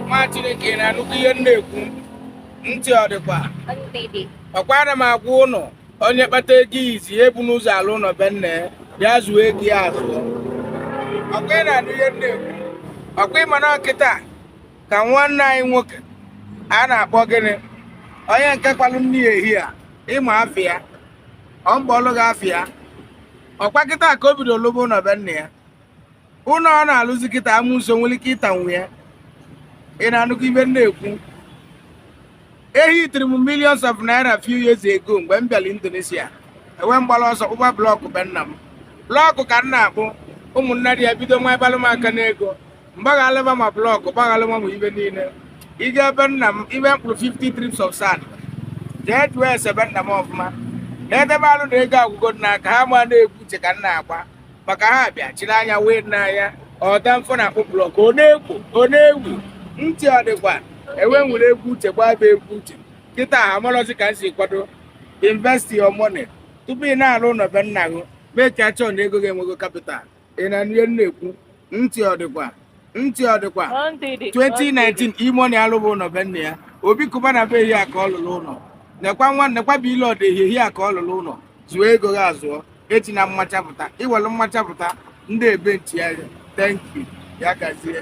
nwa chineke na-anụkwa ihe m na-ekwu ntị ọ dịkwa ọkwa ana m agwa ụnụ onye kpata ego izi ebu n'ụzọ alụ ụlọ be nna ya zụọ ego ya azụọ ọkwa ị na-anụ ihe m na-ekwu ọkwa ịma na ọ kịta ka nwanne anyị nwoke a na-akpọ gịnị onye nke kwalụ nne ya ehi a ịma afa ya ọ m ga-akpọlụ gị afa ya ọkwa kịta ka o bido lụba ụlọ be nna ya ụlọ ọ na-alụzi kịta amosu nwere ike ịtanwu ya ị na-anụkwa ihe m na-ekwu ehitiri m millions of naira few years ago mgbe m bịara Indonesia ewee m gbara ọsọ kpụba blọkụ be nna m blọkụ ka m na-akpụ ụmụnna dị ya bido nwa ịbalụ m aka n'ego m gbaghalụba ma blọkụ gbaghalụba ma ihe niile i je be nna m ihe m kpụrụ 50 trips of sand jee jụọ ese be nna m ọfụma na edebe alụ na ego agwụgo n'aka ha ma na egwu uche ka m na-agba maka ha bịa chiri anya wee na anya ọda mfọ na-akpụ blọk ọ na-ewu ọ na-ewu ntị ọ dịkwa ewee m were egwu uche gbaba egwu uche kịta ha amalọzi ka m si kwado invest your money tupu ị na-alụ ụlọ be nna gị make sure na ego gị enwego kapital ị na-anụ ihe m na-ekwu ntị ọ dịkwa ntị ọ dịkwa 2019 E-Money alụba ụlọ be nna ya Obi Cubana be ehi a ka ọ lụrụ ụlọ nekwa nwa nekwa B-Lord ehi ehi a ka ọ lụrụ ụlọ zụọ ego gị azụọ echi na mmachapụta iwelu mmachapụta ndị ebe nchigharị thank you ya gazie